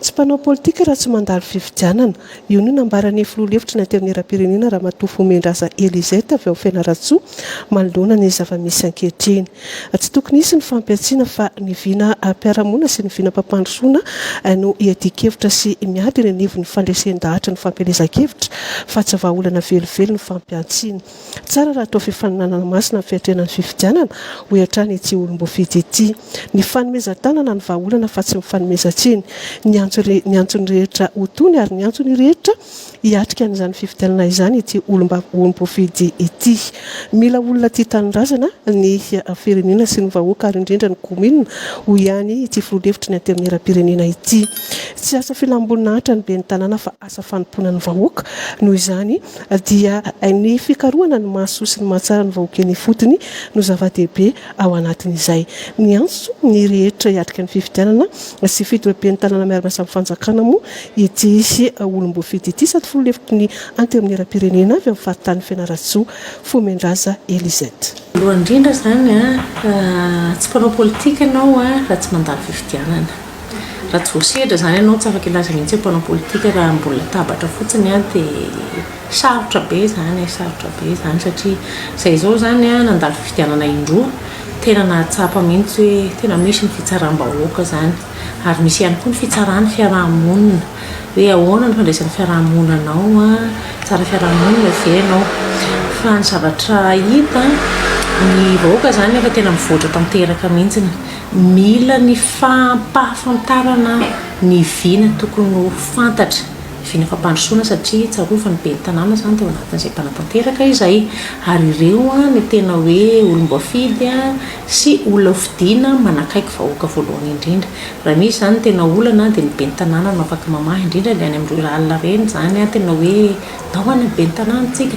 Tsy mpanao politika raha tsy mandalo fifidianana. Io no nambaran'ny filoha lefitry ny Antenimierampirenena Ramatoa Vohimiandraza Elisette avy ao Fianarantsoa manoloana ny zava-misy ankehitriny. Tsy tokony hisy ny fampihantsiana fa ny vinam-piarahamonina sy ny vinam-pampandrosoana no hiadian-kevitra sy miady eny anivon'ny fandresen-dahatry ny fampielezan-kevitra fa tsy vahaolana velively ny fampihantsiana. Tsara raha atao fifaninanana masina ny fiatrehana ny fifidianana, hoy hatrany ity olom-boafidy ity. Ny fanomezan-tanana no vahaolana fa tsy ny fanomezan-tsiny. Niantso ny antsony rehetra ho tony ary niantso ny rehetra hiatrika an'izany fifidianana izany ity olom-boafidy ity. Mila olona tia tanindrazana ny firenena sy ny vahoaka ary indrindra ny kaominina, hoy ihany ity filoha lefitry ny Antenimierampirenena ity. Tsy asa filam-boninahitra ny ben'ny tanàna fa. asa fanompoana ny vahoaka. Noho izany dia ny fikarohana ny mahasoa sy ny mahatsara ny vahoaka eny ifotony no zava-dehibe ao anatin'izay. Miantso ny rehetra hiatrika ny fifidianana sy fitoepentanana miaramiasa amin'ny fanjakana moa ity olom-boafidy ity sady filoha lefitry ny Antenimierampirenena avy amin'ny faritany Fianarantsoa, Fomendraza Elisette. Voalohany indrindra izany, tsy mpanao politika ianao raha tsy mandalo fifidianana. Raha tsy voasedra izany ianao tsy afaka hilaza mihitsy hoe mpanao politika raha ambony latabatra fotsiny dia sarotra be izany e, sarotra be izany satria izay izao izany nandalo fifidianana indroa tena nahatsapa mihitsy hoe tena misy ny fitsaram-bahoaka izany ary misy ihany koa ny fitsaran'ny fiaraha-monina hoe ahoana ny fandraisan'ny fiaraha-monina anao a, tsara fiaraha-monina ve ianao? Fa ny zavatra hita ny vahoaka izany efa tena mivoatra tanteraka mihitsy. Mila ny fampahafantarana ny vina tokony ho fantatra, ny vina fampandrosoana satria tsarovy ny ben'ny tanàna izany tao anatin'izay mpanatanteraka izay ary ireo no tena hoe olom-boafidy sy olona hofidiana manakaiky vahoaka voalohany indrindra. Raha misy izany ny tena olana dia ny ben'ny tanàna no afaka mamaha indrindra ilay any amin'ny rurale ireny izany tena hoe tahona ny ben'ny tanàna tsika.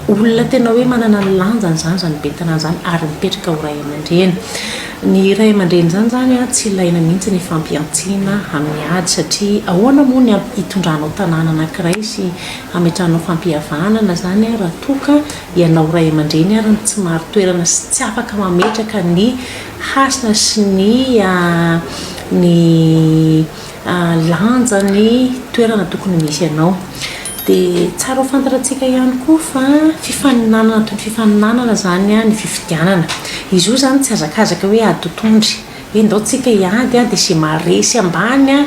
Olona tena hoe manana ny lanjany izany izany ben'ny tanàna izany ary mipetraka ho ray aman-dreny. Ny ray aman-dreny izany izany an, tsy ilaina mihitsy ny fampihantsiana amin'ny ady satria ahoana moa ny hamp- hitondranao tanàna anankiray sy hametrahanao fampihavanana izany an, raha toa ka ianao ray aman-dreny ary no tsy marin-toerana sy tsy afaka mametraka ny hasina sy ny ny lanja ny toerana tokony misy anao. Dia tsara ho fantatratsika ihany koa fa fifaninanana toy ny fifaninanana izany ny fifidianana. Izy io izany tsy hazakazaka hoe ady ho tondry, hoe ndao tsika hiady dia izay maharesy ambany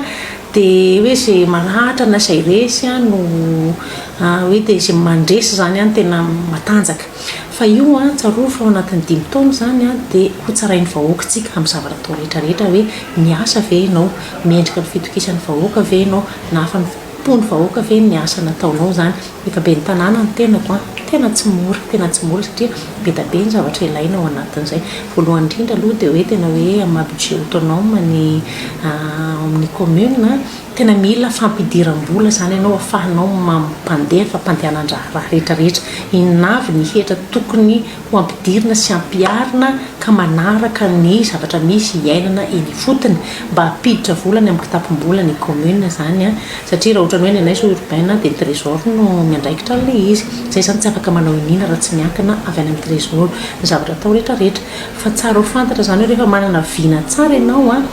dia hoe izay maratra na izay resy no hoe dia izay mandresy izany no tena matanjaka. Fa io an, tsarovy fa ao anatin'ny dimy taona izany an, dia ho tsarain'ny vahoakantsika amin'ny zavatra atao rehetra rehetra hoe, miasa ve ianao? Mendrika ny fitokisan'ny vahoaka ve ianao? Nahafan'ny mpon'ny vahoaka ve ny asa nataonao izany? Efa ben'ny tanàna ny tenako an, tena tsy mora, tena tsy mora satria be da be ny zavatra ilaina ao anatin'izay. Voalohany indrindra aloha dia hoe tena hoe amin'ny maha budget autonome ny ao amin'ny commune, Tena mila fampidiram-bola izany ianao afahanao mampandefa fandehanan-draharaha rehetra rehetra. Inona avy ny hetra tokony ho ampidirina sy ampiharina ka manaraka ny zavatra misy iainana eny ifotony mba hampiditra vola any amin'ny kitapom-bola ny commune izany an! Satria raha ohatran'ny hoe ny anay zao urbain dia ny trésor no miandraikitra an'ilay izy. Izay izany tsy afaka manao iniana raha tsy miankina avy any amin'ny trésor ny zavatra atao rehetra rehetra. Fa tsara ho fantatra izany hoe rehefa manana vina tsara ianao an,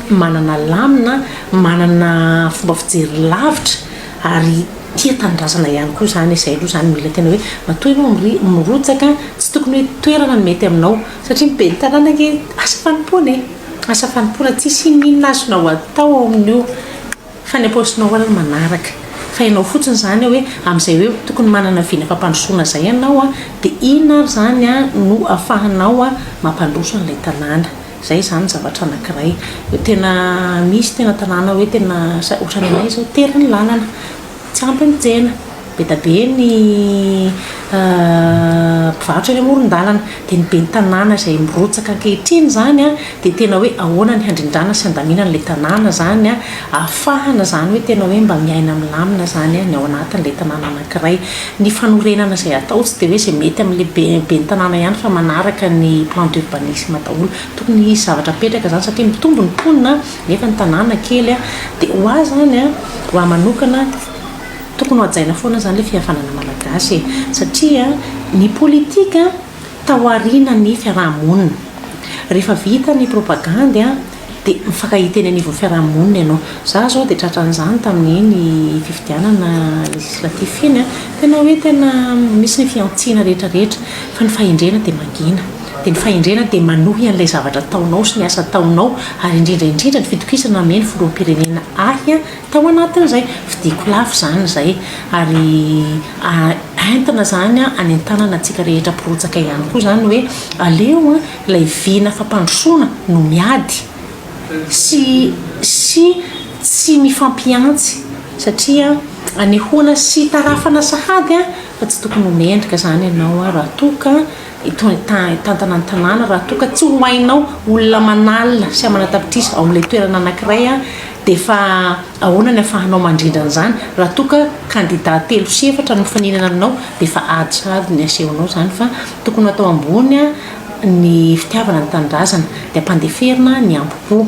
manana lamina an, Manana fomba fijery lavitra ary tia tanindrazana ihany koa izany e, izay aloha izany mila tena hoe matoa ianao mri- mirotsaka tsy tokony hoe toerana no mety aminao satria ny ben'ny tanàna ange asa fanompoana e, asa fanompoana tsisy inon'inona azonao atao ao amin'io fa ny am-paosinao ary no manaraka fa ianao fotsiny izany hoe amin'izay hoe tokony manana vina fampandrosoana izay ianao dia inona ary izany no afahanao mampandroso an'ilay tanàna. Izay izany zavatra anankiray. Tena misy tena tanàna hoe tena ohatran'ny anay izao tery ny lalana, tsy ampy ny tsena, be dia be ny mpivarotra eny amoron-dalana. Dia ny ben'ny tanàna izay mirotsaka ankehitriny izany dia tena hoe ahoana ny handrindrana sy handaminana ilay tanàna izany ahafahana izany hoe tena hoe mba miaina milamina izany ny ao anatin'ilay tanàna anankiray. Ny fanorenana izay atao tsy dia hoe izay mety amin'ilay be ben'ny tanàna ihany fa manaraka ny plan d'urbanisme daholo. Tokony hisy zavatra apetraka izany satria mitombo ny mponina nefa ny tanàna kely dia ho ahy izany an, ho ahy manokana tokony ho hajaina foana izany ilay fihavanana malagasy e! satria ny politika taorianan'ny fiaraha-monina. Rehefa vita ny propagandy an! dia mifankahita eny anivon'ny fiaraha-monina ianao. Izaho izao dia tratran'izany tamin'iny fifidianana législatif iny. Tena hoe tena misy ny fihantsiana rehetra rehetra fa ny fahendrena dia mangina. Dia ny fahendrena dia manohy an'ilay zavatra ataonao sy ny asa ataonao ary indrindra indrindra ny fitokisana namehy ny filoham-pirenena ahy tao anatin'izay. Fidiko lafo izany izay ary entina izany hanentanana antsika rehetra mpirotsaka ihany koa izany hoe aleo an! Ilay vina fampandrosoana no miady sy sy tsy mifampihantsy satria anehoana sy itarafana sahady fa tsy tokony ho mendrika izany ianao raha toa ka hitantana ny tanàna, raha toa ka tsy ho hainao olona manalina sy amanatapitrisa ao amin'ilay toerana anankiray dia fa ahoana ny afahanao mandrindra an'izany raha toa ka kandida telo sy efatra no mifaninana aminao dia fa ady sahady ny asehonao izany fa tokony atao ambony Ny fitiavana ny tanindrazana dia ampandeferina ny ambo-po.